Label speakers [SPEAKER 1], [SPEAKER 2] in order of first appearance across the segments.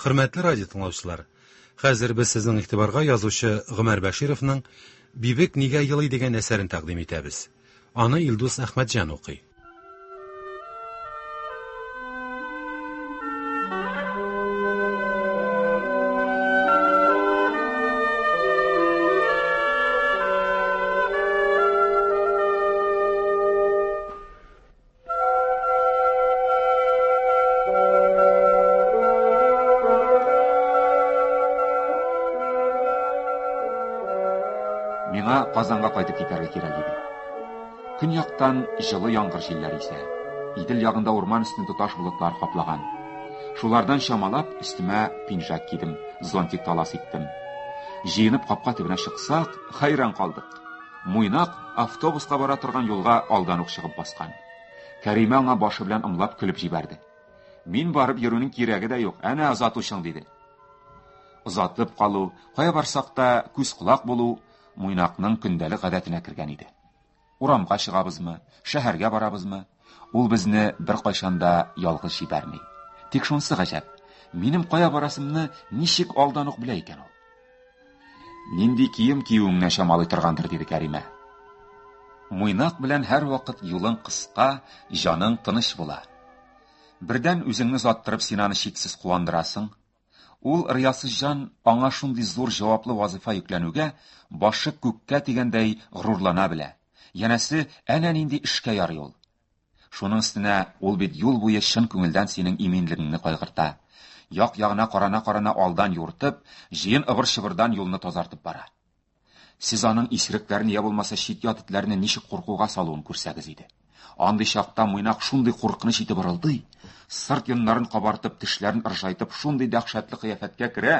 [SPEAKER 1] Хөрмәтле радио тыңлаучылар, хәзер без сезнең игътибарга язучы Гомәр Бәшировның Бибек нигә елый дигән әсәрен тәкъдим итәбез. Аны Илдус Әхмәтҗан укый.
[SPEAKER 2] Миңа Казанга кайтып китәргә кирәк иде. Көньяктан җылы яңгыр җилләре исә. Идел ягында урман өстен тоташ болытлар каплаган. Шулардан чамалап өстемә пинжак кидем, зонтик талас иттем. Җыенып капка төбенә чыксак, хайран калдык. Муйнак автобуска бара торган юлга алдан ук чыгып баскан. Кәримә аңа башы белән ымлап көлеп җибәрде. Мин барып йөрүнең кирәге дә юк, әнә озатучың, диде. Озатып калу, кая барсак та күз-колак булу Муйнакның көндәлек гадәтенә кергән иде. Урамга чыгабызмы, шәһәргә барабызмы, Ул безне беркайчан да ялгыз җибәрми. Тик шунысы гаҗәп, минем кая барасымны ничек алдан ук белә икән ул? Нинди кием киюеңне чамалый торгандыр, диде Кәримә. Муйнак белән һәрвакыт юлың кыска, җаның тыныч була. Бердән үзеңне заттырып синаны чиксез куандырасың, Ул риясызҗан аңа шундый зур җаваплы вазыйфа йөкләнүгә башы күккә дигәндәй горурлана белә. Янәсе, әнә нинди эшкә ярый ул. Шуның өстенә ул бит юл буе чын күңелдән синең иминлегеңне кайгырта. Як-ягына карана-карана алдан юыртып, җыен ыбыр-чыбырдан юлны тазартып бара. Сез аның исерекләрне я булмаса чит-ят этләрне ничек куркуга салуын күрсәгез иде. Андый чакта Мыйнак шундый куркыныч итеп ырылдый, сырт йоннарын кабартып, тешләрен ыржайтып, шундый дәһшәтле кыяфәткә керә,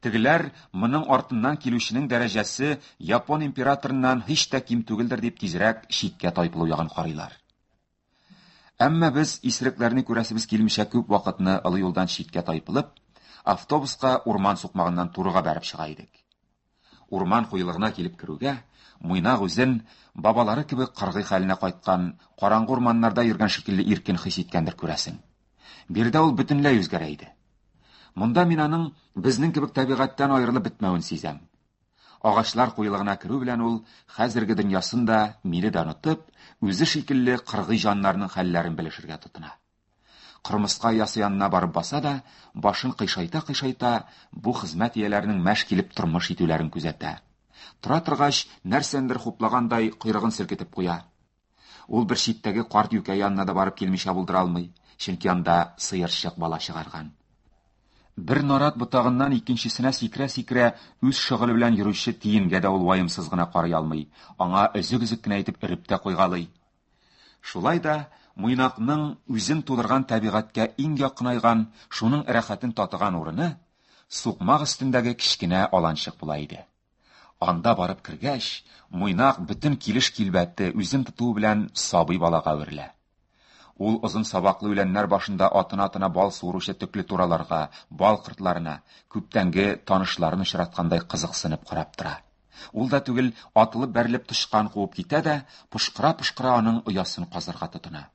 [SPEAKER 2] тегеләр моның артыннан килүченең дәрәҗәсе япон императорыннан һич тә ким түгелдер дип тизрәк читкә тайпылу ягын карыйлар. Әмма без исерекләрне күрәсебез килмичә күп вакытны олы юлдан читкә тайпылып, автобуска урман сукмагыннан турыга бәреп чыга идек. Урман куелыгына килеп керүгә, Муйнак үзен бабалары кебек кыргый хәленә кайткан, караңгы урманнарда йөргән шикелле иркен хис иткәндер күрәсең. Биредә ул бөтенләй үзгәрә иде. Монда мин аның безнең кебек табигатьтән аерылып бетмәвен сизәм. Агачлар куелыгына керү белән ул, хәзерге дөньясын да, мине дә онытып, үзе шикелле кыргый җаннарның хәлләрен белешергә тотына. Кырмыска оясы янына барып баса да, башын кыйшайта-кыйшайта, бу хезмәт ияләренең мәш килеп тормыш итүләрен күзәтә. Тора торгач, нәрсәндер хуплагандай, койрыгын селкетеп куя. Ул бер читтәге карт юкә янына да барып килмичә булдыра алмый, чөнки анда сыерчык бала чыгарган. Бер нарат ботагыннан икенчесенә сикерә-сикерә үз шөгыле белән йөрүче тиенгә дә ул ваемсыз гына карый алмый, аңа өзек-өзек кенә итеп өреп тә куйгалый. Шулай да Муйнакның үзен тудырган табигатькә иң якынайган, шуның рәхәтен татыган урыны сукмак өстендәге кечкенә аланчык була иде. Анда барып кергәч, муйнак бөтен килеш килбәте үзен тотуы белән сабый балага әверелә. Ул озын сабаклы үләннәр башында атына-атына бал суыручы төкле тураларга, бал кортларына, күптәнге танышларын очраткандай кызыксынып карап тора. Ул да түгел, атылып-бәрелеп тычкан куып китә дә, пошкыра-пошкыра аның оясын казырга тотына.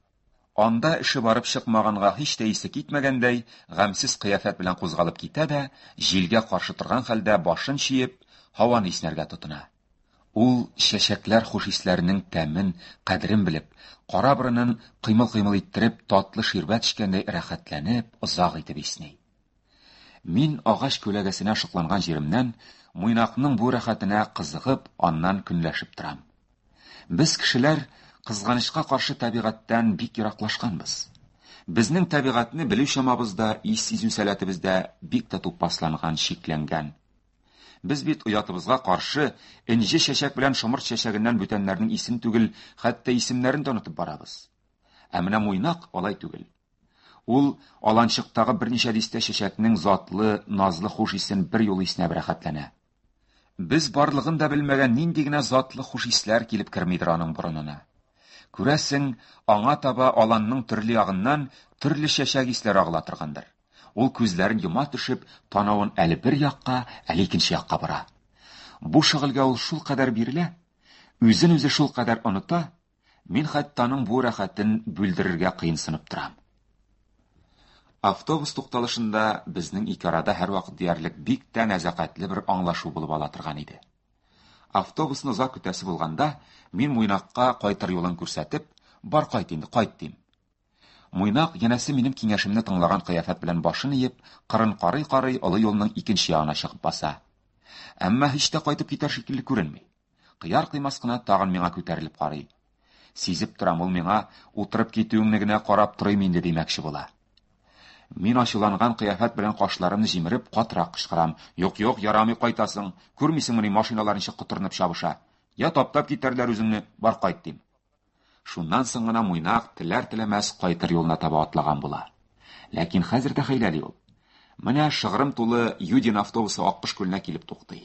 [SPEAKER 2] Анда эше барып чыкмаганга һич тә исе китмәгәндәй, гамьсез кыяфәт белән кузгалып китә дә, җилгә каршы торган хәлдә башын чөеп, һаваны иснәргә тотына. Ул, чәчәкләр хуш-исләренең тәмен, кадерен белеп, кара борынын кыймыл-кыймыл иттереп, татлы ширбәт эчкәндәй рәхәтләнеп, озак итеп исни. Мин агач күләгәсенә шыкланган җиремнән Муйнакның бу рәхәтенә кызыгып, аннан көнләшеп торам. Без кешеләр кызганычка каршы табигатьтән бик ераклашканбыз. Безнең табигатьне белү чамабыз да, ис сизү сәләтебез дә бик тә тупасланган, чикләнгән. Без бит оятыбызга каршы энҗе чәчәк белән шомырт чәчәгеннән бүтәннәрнең исем түгел, хәтта исемнәрен дә онытып барабыз. Ә менә муйнак алай түгел. Ул аланчыктагы берничә дистә чәчәкнең затлы, назлы хуш исен бер юлы иснәп рәхәтләнә. Без барлыгын да белмәгән нинди генә затлы хуш исләр килеп кермидер аның борынына. Күрәсең, аңа таба аланның төрле ягыннан төрле чәчәк исләре агыла торгандыр. Ул күзләрен йома төшеп, танавын әле бер якка, әле икенче якка бора. Бу шөгыльгә ул шулкадәр бирелә, үзен-үзе шулкадәр оныта, Мин хәтта аның бу рәхәтен бүлдерергә кыенсынып торам. Автобус тукталышында безнең ике арада һәрвакыт диярлек бик тә нәзакәтле бер аңлашу булып ала торган иде. Автобусны озак көтәсе булганда, мин Муйнакка кайтыр юлын күрсәтеп, бар кайт инде, кайт дим. Муйнак янәсе минем киңәшемне тыңлаган кыяфәт белән башын иеп, кырын карый-карый олы юлның икенче ягына чыгып баса. Әмма һич тә кайтып китәр шикелле күренми. Кыяр-кыймас кына тагын миңа күтәрелеп карый. Сизеп торам, ул миңа утырып китүеңне генә карап торыйм инде димәкче була. Мин ачуланган кыяфәт белән кашларымны җимереп, катырак кычкырам. Юк, юк, ярамый кайтасың. Күрмисеңмени, машиналар ничек котырынып чабыша. Я таптап китәрләр үзеңне, бар кайт, дим. Шуннан соң гына Муйнак теләр-теләмәс кайтыр юлына таба атлаган була. Ләкин хәзер дә хәйләли ул. Менә шыгрым тулы Юдин автобусы Аккош күленә килеп туктый.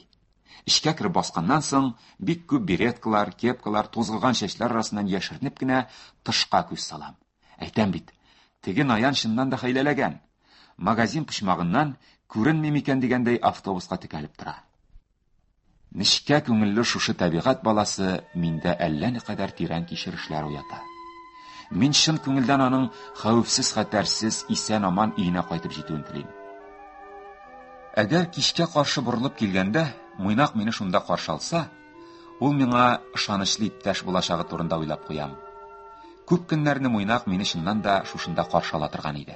[SPEAKER 2] Эчкә кереп басканнан соң, бик күп береткалар, кепкалар, тузгыган чәчләр арасыннан яшеренеп кенә тышка күз салам. Әйтәм бит, теге Наян чыннан да хәйләләгән. Магазин почмагыннан күренми микән дигәндәй автобуска текәлеп тора. Нечкә күңелле шушы табигать баласы миндә әллә никадәр тирән кичерешләр уята. Мин чын күңелдән аның хәвефсез хәтәрсез исән-аман өенә кайтып җитүен телим. Әгәр кичкә каршы борылып килгәндә, Муйнак мине шунда каршы алса, ул миңа ышанычлы иптәш булачагы турында уйлап куям. Күп көннәрне Муйнак мине чыннан да шушында каршы ала торган иде.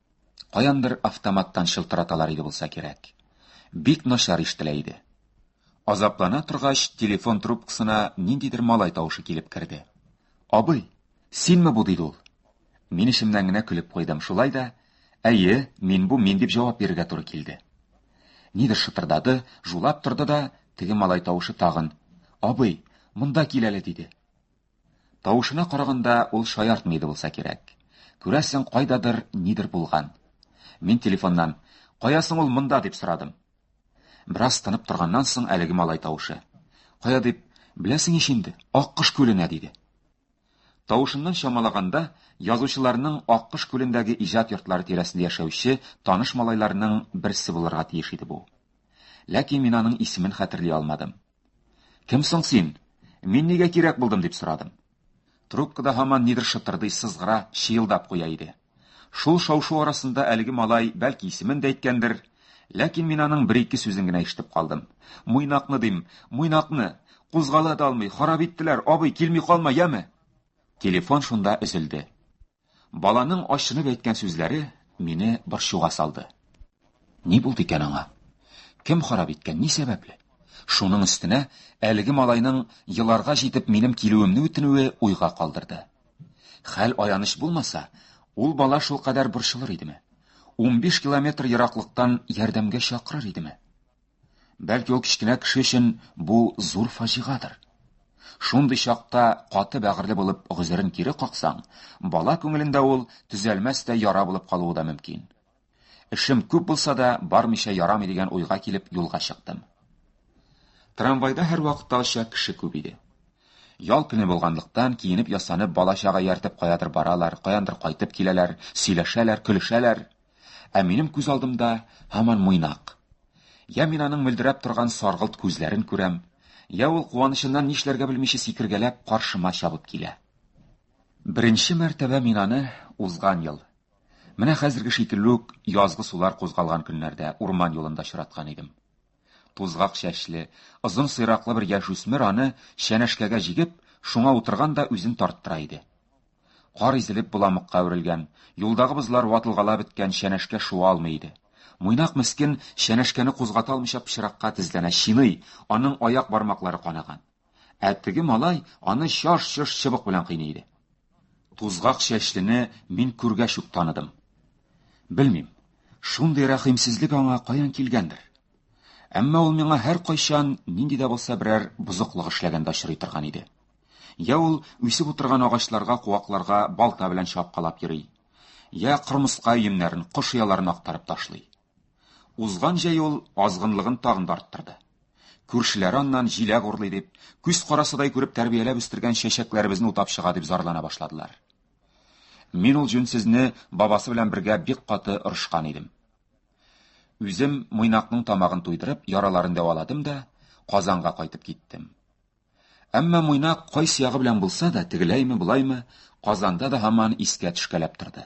[SPEAKER 2] Каяндыр автоматтан чылтыраталар иде булса кирәк. Бик начар ишетелә иде. Азаплана торгач, телефон трубкасына ниндидер малай тавышы килеп керде. Абый, синме бу диде ул. Мин эчемнән генә көлеп куйдым. Шулай да, әйе, мин бу, мин дип җавап бирергә туры килде. Нидер шытырдады, жулап торды да, теге малай тавышы тагын. Абый, монда кил әле, диде. Тавышына караганда, ул шаяртмый иде булса кирәк. Күрәсең, кайдадыр нидер булган. Мин телефоннан, Кая соң ул монда, дип сорадым. Бераз тынып торганнан соң әлеге малай тавышы. Кая дип, беләсең ич инде, Аккош күленә, диде. Тавышыннан чамалаганда, язучыларның Аккош күлендәге иҗат йортлары тирәсендә яшәүче таныш малайларның берсе булырга тиеш иде бу. Ләкин мин аның исемен хәтерли алмадым. Кем соң син? Мин нигә кирәк булдым, дип сорадым. Трубкада һаман нидер шытырдый, сызгыра, чыелдап куя иде. Шул шау-шу арасында әлеге малай бәлки исемен дә әйткәндер, ләкин мин аның бер-ике сүзен генә ишетеп калдым. Муйнакны дим, муйнакны! Кузгала да алмый, харап иттеләр, абый, килми калма, яме! Телефон шунда өзелде. Баланың ачынып әйткән сүзләре мине борчуга салды. Ни булды икән аңа? Кем харап иткән, ни сәбәпле? Шуның өстенә әлеге малайның еларга җитеп минем килүемне үтенүе уйга калдырды. Хәл аяныч булмаса, ул бала шул кадәр борчылыр идеме? 15 километр ераклыктан ярдәмгә чакырыр идеме? Бәлки ул кечкенә кеше өчен бу зур фаҗигадыр. Шундый чакта каты бәгырьле булып гозерен кире каксаң, бала күңелендә ул төзәлмәс тә яра булып калуы да мөмкин. Эшем күп булса да, бармыйча ярамый дигән уйга килеп юлга чыктым. Трамвайда һәр вакытта оча кеше күп иде. Ял көне булганлыктан, киенеп-ясанып, бала-чага ияртеп каядыр баралар, каяндыр кайтып киләләр, сөйләшәләр, көлешәләр. Ә минем күз алдымда һаман Муйнак. Я мин аның мөлдерәп торган саргылт күзләрен күрәм, я ул куанычыннан нишләргә белмичә сикергәләп каршыма чабып килә. Беренче мәртәбә мин аны узган ел, менә хәзерге шикелле үк язгы сулар кузгалган көннәрдә урман юлында очраткан идем. Тузгак чәчле, озын сыйраклы бер яшүсмер аны чәнәшкәгә җигеп, шуңа утырган да үзен тарттыра иде. Кар изелеп боламыкка әверелгән, юлдагы бозлар ватылгала беткән чәнәшкә шуа алмый иде. Муйнак мескен чәнәшкәне кузгата алмыйча пычракка тезләнә, чиный, аның аяк бармаклары канаган. Ә теге малай аны чаш-чош чыбык белән кыйный иде. Тузгак чәчлене мин күргәч үк таныдым. Белмим, шундый рәхимсезлек аңа каян килгәндер. Әмма ул миңа һәр кайчан нинди дә булса берәр бозыклык эшләгәндә очрый торган иде. Я ул үсеп утырган агачларга, куакларга балта белән чапкалап йөри, я кырмыска өемнәрен, кош ояларын актарып ташлый. Узган җәй ул азгынлыгын тагын да арттырды. Күршеләре аннан җиләк урлый дип, күз карасыдай күреп тәрбияләп үстергән чәчәкләребезне утап чыга дип зарлана башладылар. Мин ул җүнсезне бабасы белән бергә бик каты орышкан идем. Үзем мыйнакның тамагын туйдырып, яраларын дәваладым да, Казанга кайтып киттем. Әмма мыйнак кайсы ягы белән булса да, тегеләйме, былаймы, Казанда да һаман искә төшкәләп торды.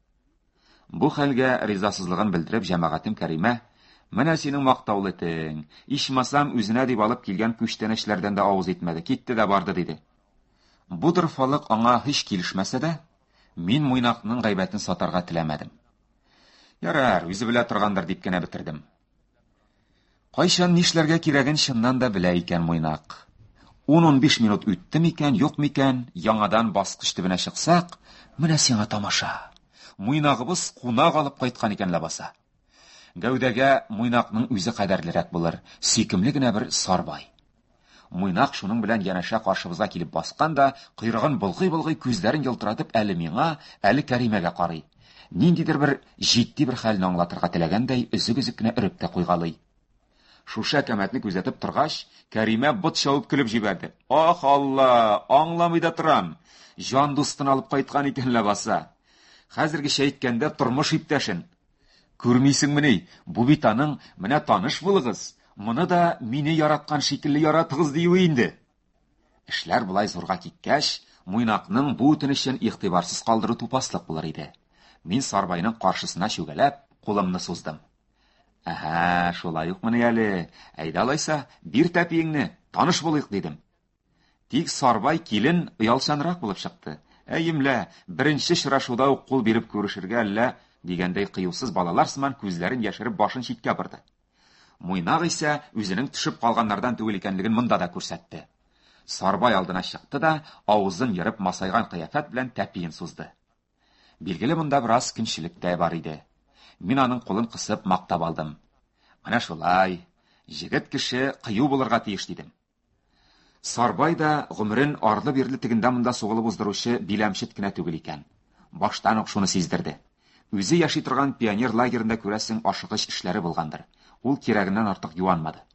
[SPEAKER 2] Бу хәлгә ризасызлыгын белдереп җәмәгатем Кәримә, Менә синең мактаулы тең, ичмасам үзенә дип алып килгән күчтәнәчләрдән дә авыз итмәде, китте дә барды, диде. Бу дорфалык аңа һич килешмәсә дә, мин Муйнакның гайбәтен сатарга теләмәдем. Ярар, үзе белә торгандыр дип кенә бетердем. Кайчан нишләргә кирәген чыннан да белә икән Муйнак. 10-15 минут үтте микән, юк микән, яңадан баскыч төбенә чыксак, менә сиңа тамаша. Муйнагыбыз кунак алып кайткан икән ләбаса. Гәүдәгә Муйнакның үзе кадәрлерәк булыр, сөйкемле генә бер сарбай. Муйнак шуның белән янәшә каршыбызга килеп баскан да, койрыгын болгый-болгый, күзләрен елтыратып әле миңа, әле Кәримәгә карый. Ниндидер бер җитди бер хәлне аңлатырга теләгәндәй, өзек-өзек кенә өреп тә куйгалый. Шушы әкәмәтне күзәтеп торгач, Кәримә бот чабып көлеп җибәрде. Ох, Алла, аңламый да торам. Җан дустын алып кайткан икән ләбаса. Хәзергечә әйткәндә, тормыш иптәшен. Күрмисеңмени, бу бит аның, менә таныш булыгыз, моны да мине яраткан шикелле яратыгыз диюе инде. Эшләр болай зурга киткәч, Муйнакның бу үтенечен игътибарсыз калдыру тупаслык булыр иде. Мин Сарбайның каршысына чүгәләп, кулымны суздым. Әһә, шулай укмыни әле. Әйдә алайса, бир тәпиеңне, таныш булыйк, дидем. Тик Сарбай килен оялчанрак булып чыкты. Әй, имлә, беренче очрашуда ук кул биреп күрешергә әллә, дигәндәй кыюсыз балалар сыман күзләрен яшереп башын читкә борды. Муйнак исә үзенең төшеп калганнардан түгел икәнлеген монда да күрсәтте. Сарбай алдына чыкты да, авызын ерып масайган кыяфәт белән тәпиен сузды. Билгеле монда бераз көнчелек тә бар иде. Мин аның кулын кысып мактап алдым. Менә шулай, җегет кеше кыю булырга тиеш дидем. Сарбай да гомерен арлы-бирле тегендә монда сугылып уздыручы биләмчет кенә түгел икән. Баштан ук шуны сиздерде. Үзе яши торган пионер лагерында күрәсең ашыгыч эшләре булгандыр. Ул кирәгеннән артык юанмады.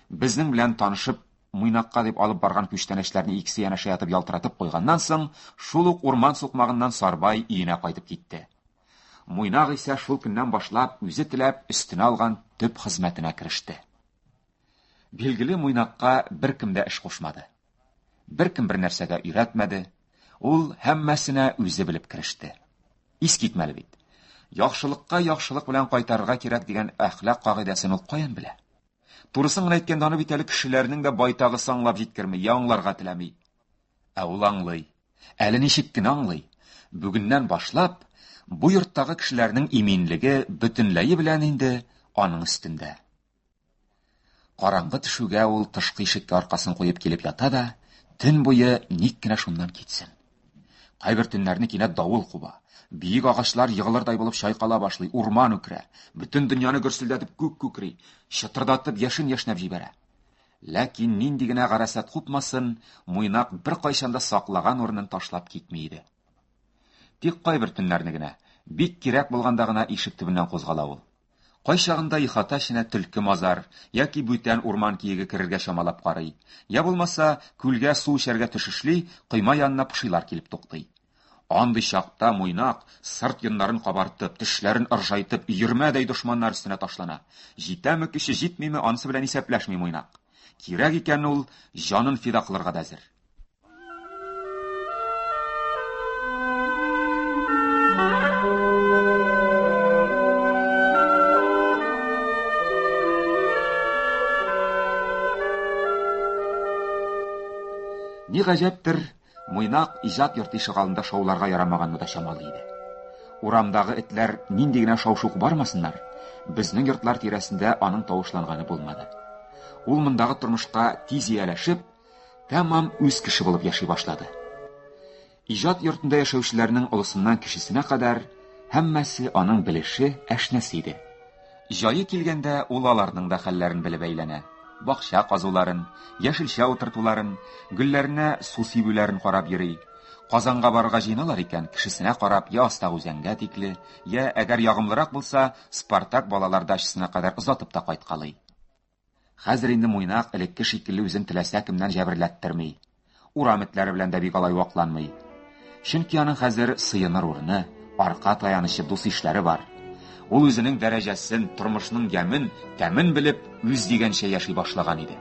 [SPEAKER 2] Безнең белән танышып, Муйнакка дип алып барган күчтәнәчләрне икесе янәшә ятып ялтыратып куйганнан соң, шул ук урман сукмагыннан Сарбай өенә кайтып китте. Муйнак исә шул көннән башлап үзе теләп өстенә алган төп хезмәтенә кереште. Билгеле муйнакка беркем дә эш кушмады. Беркем бер нәрсә дә өйрәтмәде. Ул һәммәсенә үзе белеп кереште. Ис китмәле бит. Яхшылыкка яхшылык белән кайтарырга кирәк дигән әхлак кагыйдәсен ул каян белә? Турысын гына әйткәндә, аны бит әле кешеләрнең дә байтагы саңлап җиткерми, я аңларга теләми. Ә ул аңлый. Әле ничек кенә аңлый. Бүгеннән башлап, бу йорттагы кешеләрнең иминлеге бөтенләе белән инде аның өстендә. Караңгы төшүгә ул тышкы ишеккә аркасын куеп килеп ята да, төн буе ник кенә шуннан китсен. Кайбер төннәрне кинәт давыл куба. Биек агачлар егылырдай булып чайкала башлый, урман үкрә. Бөтен дөньяны гөрселдәтеп күк күкри, чытырдатып яшен яшнәп җибәрә. Ләкин нинди генә гарәсәт купмасын, Муйнак беркайчан да саклаган урынын ташлап китми иде. Тик кайбер төннәрне генә, бик кирәк булганда гына ишек төбеннән кузгала ул. Кайчагында ихата эченә төлке-мазар яки бүтән урман киеге керергә чамалап карый, йә булмаса, күлгә су эчәргә төшешли, койма янына пошилар килеп туктый. Андый чакта Муйнак, сырт йоннарын кабартып, тешләрен ыржайтып, өермәдәй дошманнар өстенә ташлана. Җитәме көче, җитмиме, анысы белән исәпләшми Муйнак. Кирәк икән, ул җанын фида кылырга да әзер. Ни гаҗәптер, Муйнак иҗат йорты ишегалында шауларга ярамаганны да чамалый иде. Урамдагы этләр нинди генә шаушук бармасыннар, безнең йортлар тирәсендә аның тавышланганы булмады. Ул мондагы тормышка тиз ияләшеп, Тәмам үз кеше булып яши башлады. Иҗат йортында яшәүчеләрнең олысыннан кешесенә кадәр һәммәсе аның белеше, әшнәсе иде. Җае килгәндә ул аларның да хәлләрен белеп әйләнә. Бакча казуларын, яшелчә утыртуларын, гөлләренә су сибүләрен карап йөри. Казанга барырга җыеналар икән, кешесенә карап, я Астак үзәнгә тикле, я, әгәр ягымлырак булса, Спартак балалар дачасына кадәр озатып та кайткалый. Хәзер инде Муйнак элекке шикелле үзен теләсә кемнән җәберләттерми. Урам этләре белән дә бик алай вакланмый. Чөнки аның хәзер сыеныр урыны, арка таянычы, дус-ишләре бар. Ул үзенең дәрәҗәсен, тормышның ямен, тәмен белеп, үз дигәнчә яши башлаган иде.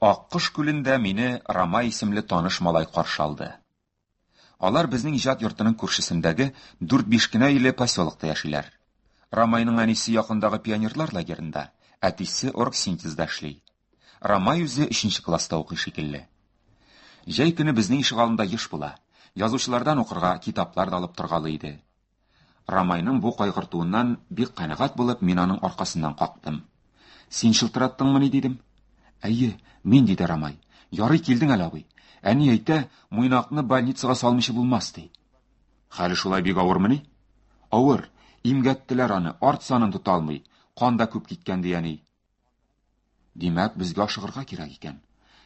[SPEAKER 2] Аккош күлендә мине Рамай исемле таныш малай каршы алды. Алар безнең иҗат йортының күршесендәге дүрт-биш кенә өйле поселокта яшиләр. Рамайның әнисе якындагы пионерлар лагерында, әтисе оргсинтезда эшли. Рамай үзе өченче класста укый шикелле. Җәй көне безнең ишегалында еш була. Язучылардан укырга китаплар да алып торгалый иде. Рамайның бу кайгыртуыннан бик канәгать булып, мин аның аркасыннан кактым. Син шылтыраттыңмыни дидем. Әйе, мин диде Рамай. Ярый килдең әле, абый. Әни әйтә, муйнакны больницага салмыйча булмас ди. Хәле шулай бик авырмыни? Авыр. Имгәттеләр аны, арт санын тота алмый. Кан да күп киткән ди әни. Димәк, безгә ашыгырга кирәк икән.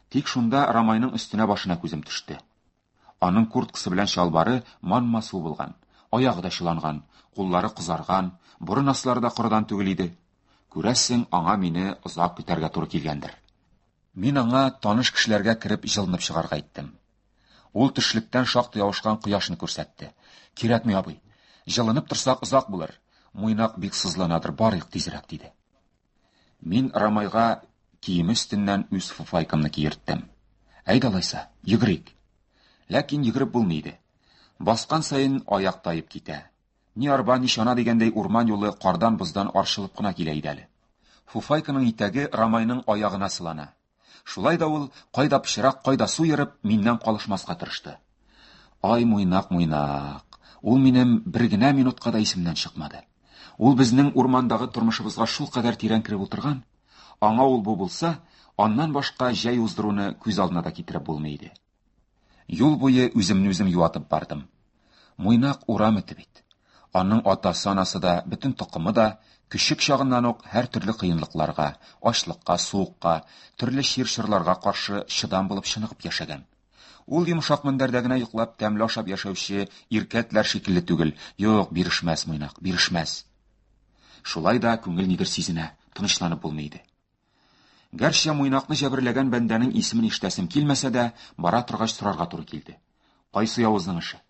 [SPEAKER 2] Тик шунда Рамайның өстенә башына күзем төште. Аның курткасы белән чалбары манма су булган, аягы да чыланган, куллары кызарган, борын аслары да корыдан түгел иде. Күрәсең, аңа мине озак көтәргә туры килгәндер. Мин аңа таныш кешеләргә кереп җылынып чыгарга әйттем. Ул төшлектән шактый авышкан кояшны күрсәтте. Кирәкми, абый. Җылынып торсак озак булыр. Муйнак бик сызланадыр, барыйк тизрәк, диде. Мин Рамайга киеме өстеннән үз фуфайкамны киерттем. Әйдә алайса, йөгерик. Ләкин йөгереп булмый иде. Баскан саен аяк таеп китә. Ни арба, ни чана дигәндәй урман юлы кардан-боздан арчылып кына килә иде әле. Фуфайканың итәге Рамайның аягына сылана. Шулай да ул, кайда пычрак, кайда су ерып, миннән калышмаска тырышты. Ай, муйнак, муйнак. Ул минем бер генә минутка да исемнән чыкмады. Ул безнең урмандагы тормышыбызга шул кадәр тирән кереп утырган, аңа ул бу булса, аннан башка җәй уздыруны күз алдына да китереп булмый иде. Юл буе үземне үзем юатып бардым. Муйнак урам эте бит. Аның атасы-анасы да, бөтен токымы да көчек чагыннан ук һәр төрле кыенлыкларга, ачлыкка, суыкка, төрле чир-чырларга каршы чыдам булып чыныгып яшәгән. Ул йомшак мендәрдә генә йоклап, тәмле ашап яшәүче иркәтләр шикелле түгел. Юк, бирешмәс Муйнак, бирешмәс. Шулай да күңел нидер сизенә, тынычланып булмый иде. Гәрчә муйнакны җәберләгән бәндәнең исемен ишетәсем килмәсә дә, бара торгач сорарга туры килде. Кайсы явызның эше?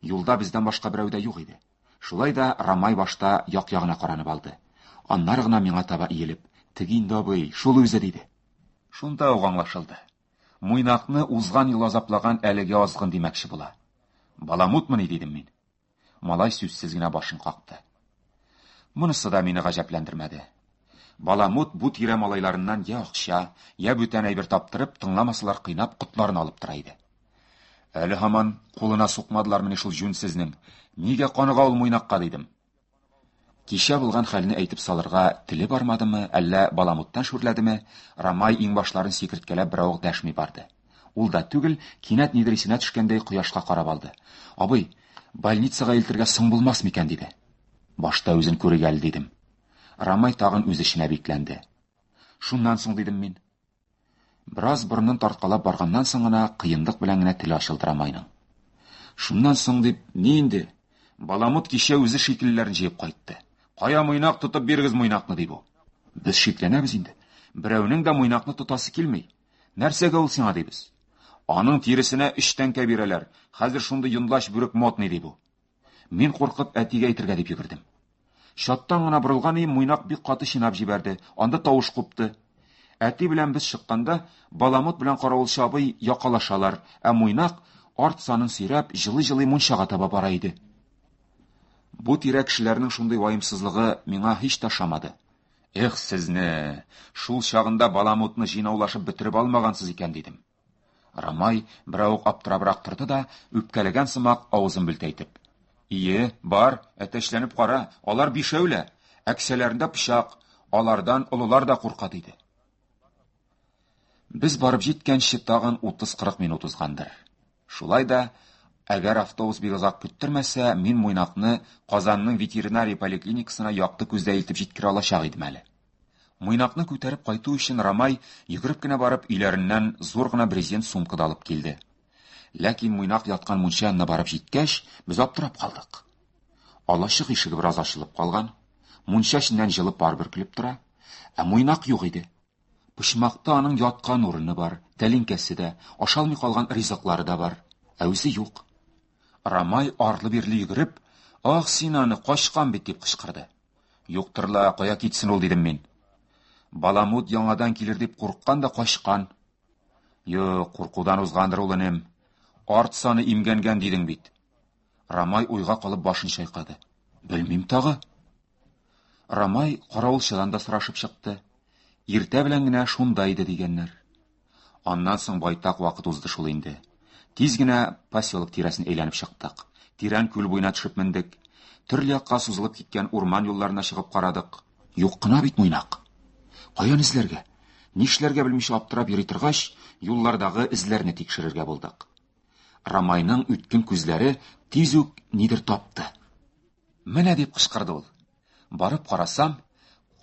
[SPEAKER 2] Юлда бездән башка берәү дә юк иде. Шулай да Рамай башта як-ягына каранып алды. Аннары гына миңа таба иелеп, "Теге инде абый, шул үзе" диде. Шунда ук аңлашылды. Муйнакны узган ел азаплаган әлеге азгын димәкче була. Баламутмыни, дидем мин. Малай сүзсез генә башын какты. Монысы да мине гаҗәпләндермәде. Баламут бу тирә малайларыннан я акча, я бүтән әйбер таптырып, тыңламасалар кыйнап, котларын алып тора иде. Әле һаман кулына сукмадылармыни шул җүнсезнең? Нигә каныга ул муйнакка, дидем. Кичә булган хәлне әйтеп салырга теле бармадымы, әллә баламуттан шүрләдеме, Рамай иңбашларын сикерткәләп беравык дәшми барды. Ул да түгел, кинәт нидер исенә төшкәндәй кояшка карап алды. Абый, больницага илтергә соң булмас микән, диде. Башта үзен күрик әле, дидем. Рамай тагын үз эченә бикләнде. Шуннан соң, дидем мин. Бераз борынын тарткалап барганнан соң гына кыенлык белән генә теле ачылдыра Майның. Шуннан соң дип, ни инде? Баламут кичә үзе шикелләрен җыеп кайтты. Кая муйнак тотып бирегез муйнакны, ди бу. Без шикләнәбез инде. Берәүнең дә муйнакны тотасы килми. Нәрсәгә ул сиңа дибез. Аның тиресенә өч тәңкә бирәләр. Хәзер шундый йонлач бүрек модный, ди бу. Мин куркып әтигә әйтергә дип йөгердем. Чаттан гына борылган өем муйнак бик каты чинап җибәрде, анда тавыш купты. Әти белән без чыкканда, Баламут белән каравылчы абый якалашалар, ә муйнак, арт санын сөйрәп, җылый-җылый мунчага таба бара иде. Бу тирә кешеләрнең шундый ваемсызлыгы миңа һич тә ошамады. Эх, сезне! Шул чагында Баламутны җыйнаулашып бетереп алмагансыз икән, дидем. Рамай берәү ук аптырабрак торды да, үпкәләгән сымак авызын бүлтәйтеп. Ие, бар, әтәчләнеп кара, алар бишәү лә, әксәләрендә пычак, алардан олылар да курка, диде. Без барып җиткәнче тагын 30-40 минут узгандыр. Шулай да, әгәр автобус бик озак көттермәсә, мин Муйнакны Казанның ветеринария поликлиникасына якты күздә илтеп җиткерә алачак идем әле. Муйнакны күтәреп кайту өчен Рамай йөгереп кенә барып өйләреннән зур гына брезент сумка да алып килде. Ләкин Муйнак яткан мунча янына барып җиткәч, без аптырап калдык. Алачык ишеге бераз ачылып калган, мунча эченнән җылы пар бөркелеп тора, ә Муйнак юк иде. Почмакта аның яткан урыны бар, тәлинкәсе дә, ашалмый калган ризыклары да бар, ә үзе юк. Рамай арлы-бирле йөгереп, "Ах, син аны качкан бит", дип кычкырды. Юктыр ла, кая китсен ул, дидем мин. Баламут яңадан килер дип курыккан да качкан. Юк, куркудан узгандыр ул энем. Арт саны имгәнгән дидең бит. Рамай уйга калып башын чайкады. Белмим тагы. Рамай каравылчыдан да сорашып чыкты. Иртә белән генә шунда иде дигәннәр. Аннан соң байтак вакыт узды шул инде. Тиз генә поселок тирәсен әйләнеп чыктык. Тирән күл буена төшеп мендек. Төрле якка сузылып киткән урман юлларына чыгып карадык. Юк кына бит Муйнак. Каян эзләргә? Нишләргә белмичә аптырап йөри торгач, юллардагы эзләрне тикшерергә булдык. Рамайның үткен күзләре тиз үк нидер тапты. Менә дип кычкырды ул. Барып карасам,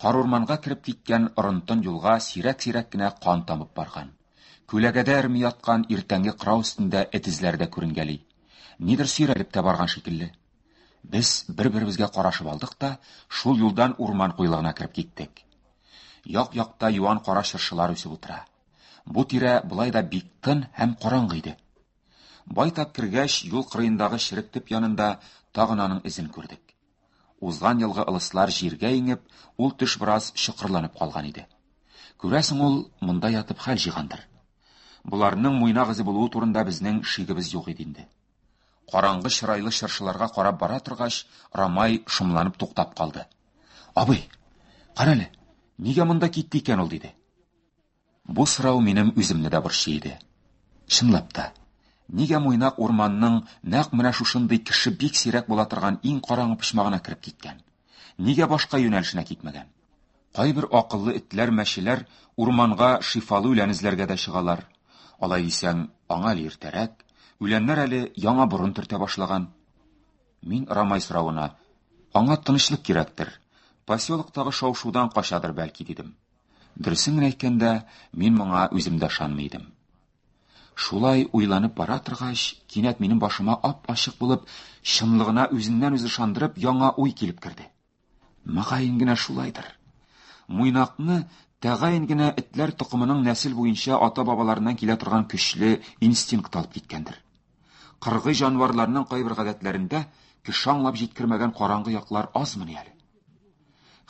[SPEAKER 2] карурманга кереп киткән орынтын юлга сирәк-сирәк кенә кан тамып барган. Күләгәдә эрми яткан иртәнге кырау өстендә эт эзләре дә күренгәли. Нидер сөйрәлеп тә барган шикелле. Без бер-беребезгә карашып алдык та, шул юлдан урман куелыгына кереп киттек. Як-якта юан кара чыршылар үсеп утыра. Бу тирә болай да бик тын һәм караңгы иде. Байтак кергәч, юл кырыендагы черек төп янында тагын аның эзен күрдек. Узган елгы ылыслар җиргә иңеп, ул төш бераз чокырланып калган иде. Күрәсең, ул монда ятып хәл җыйгандыр. Боларның муйнак эзе булуы турында безнең шигебез юк иде инде. Караңгы чырайлы чыршыларга карап бара торгач, Рамай шомланып туктап калды. Абый, карале, нигә монда китте икән ул, диде. Бу сорау минем үземне дә борчый иде. Чынлап та, нигә Муйнак урманның нәкъ менә шушындый кеше бик сирәк була торган иң караңгы почмагына кереп киткән? Нигә башка юнәлешенә китмәгән? Кайбер акыллы этләр, мәчеләр урманга шифалы үлән эзләргә дә чыгалар. Алай дисәң, аңа әле иртәрәк, үләннәр әле яңа борын төртә башлаган. Мин Рамай соравына, аңа тынычлык кирәктер, поселоктагы шау-шудан качадыр бәлки, дидем. Дөресен генә әйткәндә, мин моңа үзем дә ышанмый идем. Шулай уйланып бара торгач, кинәт минем башыма ап-ачык булып, чынлыгына үзеннән-үзе ышандырып, яңа уй килеп керде. Мөгаен генә шулайдыр. Муйнакны тәгаен генә этләр токымының нәсел буенча ата-бабаларыннан килә торган көчле инстинкт алып киткәндер. Кыргый җанварларның кайбер гадәтләрендә кеше аңлап җиткермәгән караңгы яклар азмыни әле.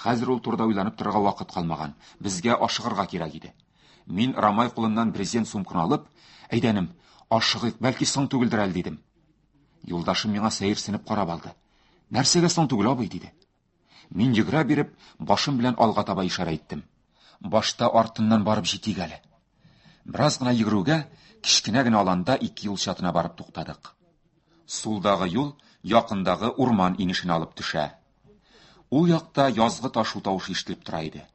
[SPEAKER 2] Хәзер ул турыда уйланып торырга вакыт калмаган. Безгә ашыгырга кирәк иде. Мин Рамай кулыннан брезент сумканы алып, әйдәнем, ашыгыйк, бәлки соң түгелдер әле дидем. Юлдашым миңа сәерсенеп карап алды. Нәрсәгә соң түгел, абый, диде. Мин йөгерә биреп, башым белән алга таба ишарә иттем. Башта артыннан барып җитик әле. Бераз гына йөгерүгә, кечкенә генә аланда ике юл чатына барып туктадык. Сулдагы юл якындагы урман инешенә алып төшә. Ул якта язгы ташу тавышы ишетелеп тора иде.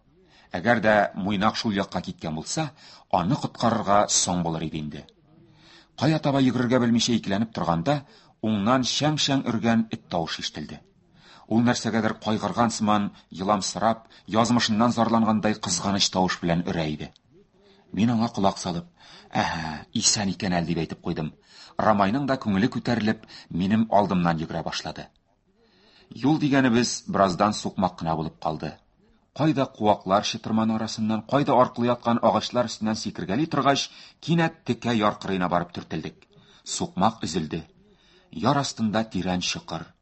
[SPEAKER 2] Әгәр дә Муйнак шул якка киткән булса, аны коткарырга соң булыр иде инде. Кая таба йөгерергә белмичә икеләнеп торганда, уңнан шәң-шәң өргән эт тавышы ишетелде. Ул нәрсәгәдер кайгырган сыман, еламсырап, язмышыннан зарлангандай кызганыч тавыш белән өрә иде. Мин аңа колак салып, «Әһә, исән икән әле», дип әйтеп куйдым. Рамайның да күңеле күтәрелеп, минем алдымнан йөгерә башлады. Юл дигәнебез бераздан сукмак кына булып калды. Кайда куаклар чытырманы арасыннан, кайда аркылы яткан агачлар өстеннән сикергәли торгач, кинәт текә яр кырыена барып төртелдек. Сукмак өзелде. Яр астында тирән чокыр.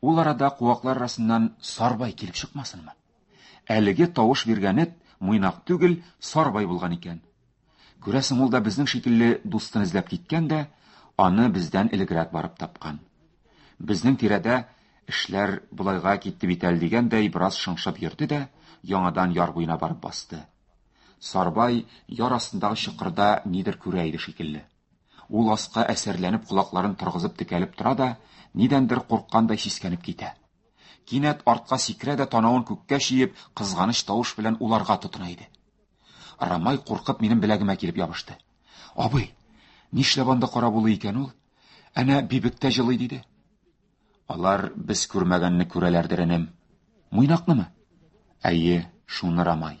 [SPEAKER 2] Ул арада куаклар арасыннан Сарбай килеп чыкмасынмы? Әлеге тавыш биргән эт Муйнак түгел, Сарбай булган икән. Күрәсең, ул да безнең шикелле дустын эзләп киткән дә, аны бездән элегрәк барып тапкан. Безнең тирәдә эшләр болайга китте бит әле дигәндәй бераз шыңшып йөрде дә, яңадан яр буена барып басты. Сарбай яр астындагы чокырда нидер күрә иде шикелле. Ул аска әсәрләнеп колакларын торгызып текәлеп тора да, нидәндер курккандай сискәнеп китә. Кинәт артка сикерә дә танавын күккә чиеп, кызганыч тавыш белән уларга тотына иде. Рамай куркып минем беләгемә килеп ябышты. Абый, нишләп анда кара булу икән ул? Әнә бибек тә җылый диде. Алар без күрмәгәнне күрәләрдер, энем. Муйнакнымы? Әйе, шуны Рамай.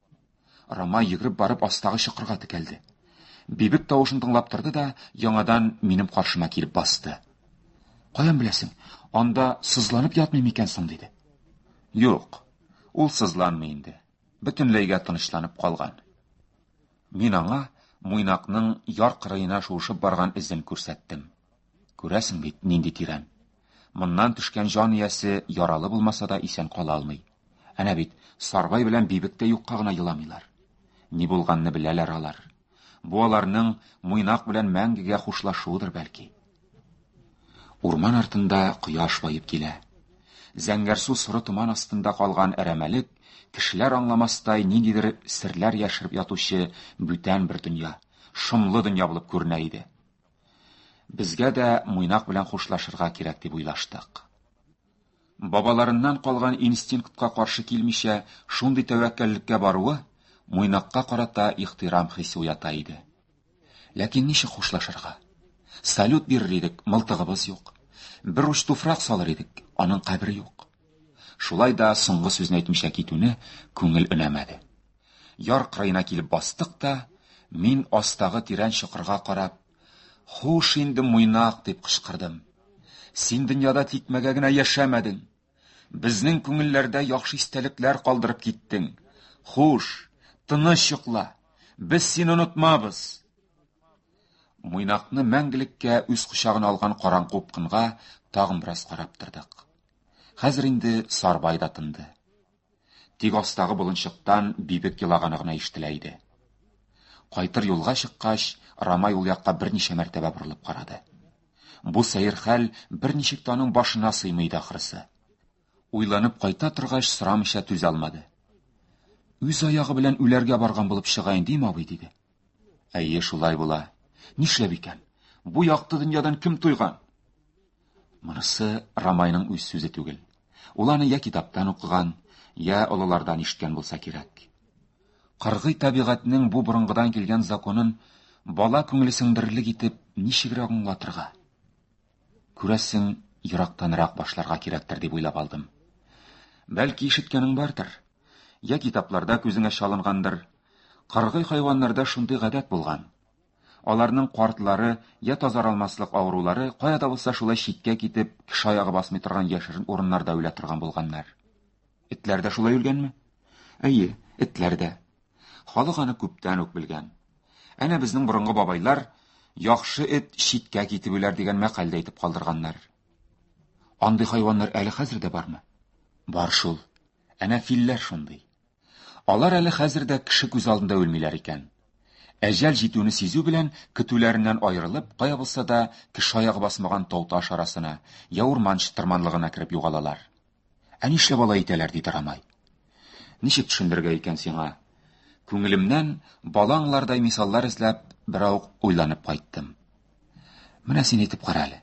[SPEAKER 2] Рамай йөгереп барып астагы чокырга текәлде. Бибек тавышын тыңлап торды да, яңадан минем каршыма килеп басты. Каян беләсең, анда сызланып ятмый микән соң, диде. Юк, ул сызланмый инде. Бөтенләйгә тынычланып калган. Мин аңа муйнакның яр кырыена шуышып барган эзен күрсәттем. Күрәсең бит, нинди тирән. Моннан төшкән җан иясе яралы булмаса да исән кала алмый. Әнә бит, Сарбай белән Бибек тә юкка гына еламыйлар. Ни булганны беләләр алар. Бу аларның Муйнак белән мәңгегә хушлашуыдыр бәлки. Урман артында кояш баеп килә. Зәңгәрсу соры томан астында калган әрәмәлек, кешеләр аңламастай ниндидер серләр яшереп ятучы бүтән бер дөнья, шомлы дөнья булып күренә иде. Безгә дә Муйнак белән хушлашырга кирәк дип уйлаштык. Бабаларыннан калган инстинктка каршы килмичә, шундый тәвәккәллеккә баруы Муйнакка карата ихтирам хисе уята иде. Ләкин ничек хушлашырга? Салют бирер идек, мылтыгыбыз юк. Бер уч туфрак салыр идек, аның кабере юк. Шулай да соңгы сүзне әйтмичә китүне күңел өнәмәде. Яр кырыена килеп бастык та, мин астагы тирән чокырга карап, Хуш инде, муйнак, дип кычкырдым. Син дөньяда тикмәгә генә яшәмәдең. Безнең күңелләрдә яхшы истәлекләр калдырып киттең. Хуш, тыныч йокла. Без сине онытмабыз. Муйнакны мәңгелеккә үз кочагына алган караңгы упкынга тагын бераз карап тордык. Хәзер инде Сарбай да тынды. Тик астагы болынчыктан бибек елаганы гына ишетелә иде. Кайтыр юлга чыккач, Рамай ул якка берничә мәртәбә борылып карады. Бу сәер хәл берничек тә аның башына сыймый иде ахрысы. Уйланып кайта торгач, сорамыйча түзә алмады. Үз аягы белән үләргә барган булып чыга инде, абый, диде. Әйе, шулай була. Нишләп икән? Бу якты дөньядан кем туйган? Монысы Рамайның үз сүзе түгел. Ул аны я китаптан укыган, я олылардан ишеткән булса кирәк. Кыргый табигатьнең бу борынгыдан килгән законын бала күңеле сеңдерерлек итеп ничегрәк аңлатырга? Күрәсең, ерактанрак башларга кирәктер дип уйлап алдым. Бәлки ишеткәнең бардыр? Я китапларда күзеңә чалынгандыр, Кыргый хайваннарда шундый гадәт булган. Аларның картлары я тазаралмаслык авырулары кая да булса шулай читкә китеп, кеше аягы басмый торган яшерен урыннарда үлә торган булганнар. Этләр дә шулай үлгәнме? Әйе, этләр дә. Халык аны күптән үк белгән. Әнә безнең борынгы бабайлар яхшы эт читкә китеп үләр дигән мәкаль дә әйтеп калдырганнар. Андый хайваннар әле хәзер дә бармы? Бар шул. Әнә филләр шундый. Алар әле хәзер дә кеше күз алдында үлмиләр икән. Әҗәл җитүне сизү белән көтүләреннән аерылып, кая булса да кеше аягы басмаган тау-таш арасына, я урман чытырманлыгына кереп югалалар. Ә нишләп алай итәләр, диде Рамай. Ничек төшендергә икән сиңа? Күңелемнән бала аңлардай мисаллар эзләп берау уйланып кайттым. Менә син әйтеп кара әле.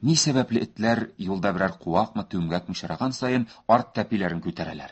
[SPEAKER 2] Ни сәбәпле этләр юлда берәр куакмы, түмгәкме очраган саен арт тәпиләрен күтәрәләр?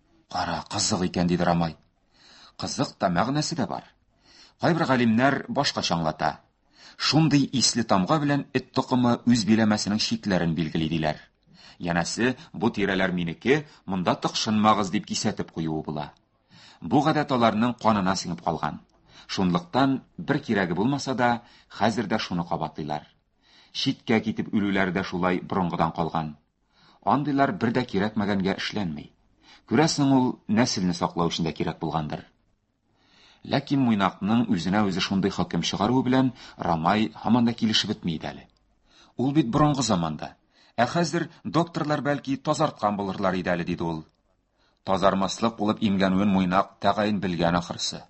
[SPEAKER 2] Кара, кызык икән, диде Рамай. Кызык та, мәгънәсе дә бар. Кайбер галимнәр башка чаңлата. Шундый исле тамга белән эт токымы үз биләмәсенең чикләрен билгели диләр. Янәсе, бу тирәләр минеке, монда тыкшынмагыз дип кисәтеп куюы була. Бу гадәт аларның канына сеңеп калган. Шунлыктан бер кирәге булмаса да, хәзер дә шуны кабатлыйлар. Читкә китеп үлүләре дә шулай борынгыдан калган. Андыйлар бер дә кирәкмәгәнгә эшләнми. Күрәсең, ул нәселне саклау өчен дә кирәк булгандыр. Ләкин Муйнакның үзенә үзе шундый хөкем чыгаруы белән Рамай һаман да килешеп бетми иде әле. Ул бит борынгы заманда. Ә хәзер докторлар бәлки тазарткан булырлар иде әле, диде ул. Тазармаслык булып имгәнүен Муйнак тәгаен белгән ахрысы.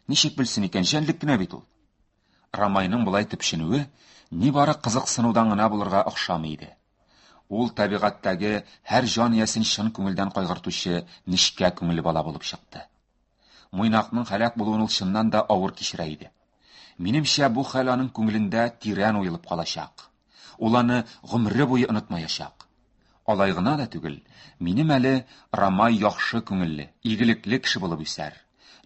[SPEAKER 2] Ничек белсен икән, җәнлек кенә бит ул. Рамайның болай төпченүе нибары кызыксынудан гына булырга охшамый иде. Ул табигатьтәге һәр җан иясен чын күңелдән кайгыртучы нечкә күңелле бала булып чыкты. Муйнакның һәлак булуын ул чыннан да авыр кичерә иде. Минемчә, бу хәл аның күңелендә тирән уелып калачак. Ул аны гомере буе онытмаячак. Алай гына да түгел, минем әле Рамай яхшы күңелле, игелекле кеше булып үсәр.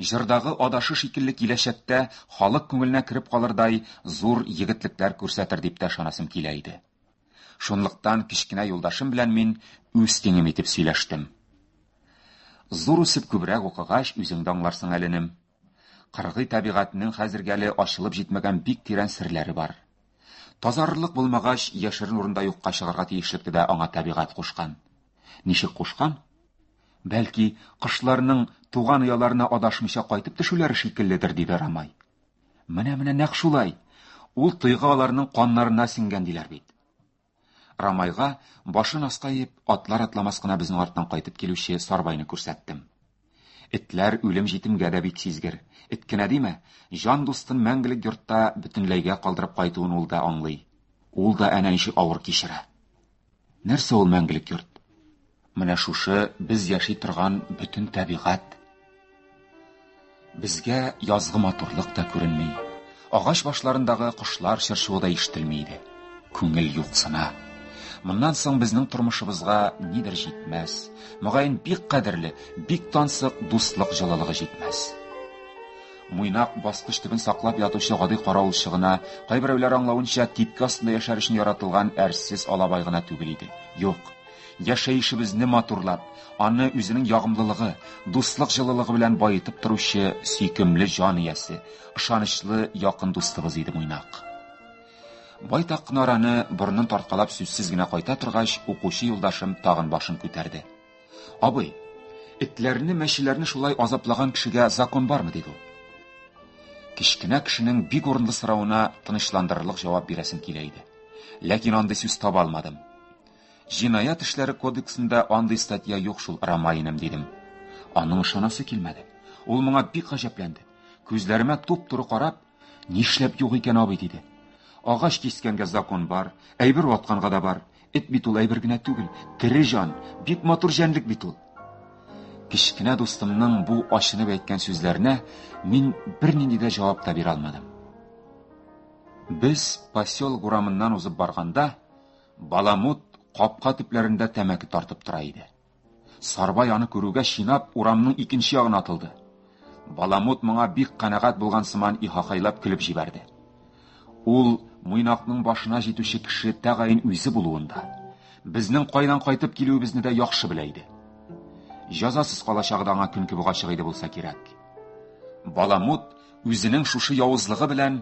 [SPEAKER 2] Җырдагы адашы шикелле киләчәктә халык күңеленә кереп калырдай зур егетлекләр күрсәтер дип тә ышанасым килә иде. Шунлыктан кечкенә юлдашым белән мин үз тиңем итеп сөйләштем. Зур үсеп күбрәк укыгач, үзең дә аңларсың әле, энем. Кыргый табигатьнең хәзергә әле ачылып җитмәгән бик тирән серләре бар. Тазарырлык булмагач, яшерен урында юкка чыгарга тиешлекне дә аңа табигать кушкан. Ничек кушкан? Бәлки, кышларның туган ояларына адашмыйча кайтып төшүләре шикелледер, диде Рамай. Менә-менә нәкъ шулай. Ул тойга аларның каннарына сеңгән диләр бит. Рамайга башын аска иеп, атлар атламас кына безнең арттан кайтып килүче Сарбайны күрсәттем. Этләр үлем җитемгә дә бик сизгер. Эт кенә диме, җан дустын мәңгелек йортта бөтенләйгә калдырып кайтуын ул да аңлый. Ул да әнә ничек авыр кичерә. Нәрсә ул мәңгелек йорт? Менә шушы без яши торган бөтен табигать. Безгә язгы матурлык та күренми. Агач башларындагы кошлар чыршуы да ишетелми иде. Күңел юксына. Моннан соң безнең тормышыбызга нидер җитмәс. Мөгаен бик кадерле, бик тансык дуслык җылылыгы җитмәс. Муйнак баскыч төбен саклап ятучы гади каравылчы гына, кайберәүләр аңлавынча, типке астында яшәр өчен яратылган әрсез алабай гына түгел иде. Юк, Яшәешебезне матурлап, аны үзенең ягымлылыгы, дуслык җылылыгы белән баетып торучы сөйкемле җан иясе, ышанычлы якын дустыбыз иде Муйнак. Байтак кына араны борынын тарткалап сүзсез генә кайта торгач, укучы юлдашым тагын башын күтәрде. Абый, этләрне, мәчеләрне шулай азаплаган кешегә закон бармы, диде ул. Кечкенә кешенең бик урынлы соравына тынычландырырлык җавап бирәсем килә иде. Ләкин андый сүз таба алмадым. Җинаять эшләре кодексында андый статья юк шул, Ромаиным, дидем. Аның ышанасы килмәде. Ул моңа бик гаҗәпләнде. Күзләремә туп-туры карап, нишләп юк икән абый, диде. Агач кискәнгә закон бар, әйбер ватканга да бар. Эт бит ул әйбер генә түгел, тере җан, бик матур җәнлек бит ул. Кечкенә дустымның бу ачынып әйткән сүзләренә мин бернинди дә җавап та бирә алмадым. Без поселок урамыннан узып барганда, Баламут капка төпләрендә тәмәке тартып тора иде. Сарбай аны күрүгә чинап урамның икенче ягына атылды. Баламут моңа бик канәгать булган сыман ихахайлап көлеп җибәрде. Ул Муйнакның башына җитүче кеше тәгаен үзе булуын да, безнең кайдан кайтып килүебезне дә яхшы белә иде. Җазасыз калачагы да аңа көнкүбек ачык иде булса кирәк. Баламут үзенең шушы явызлыгы белән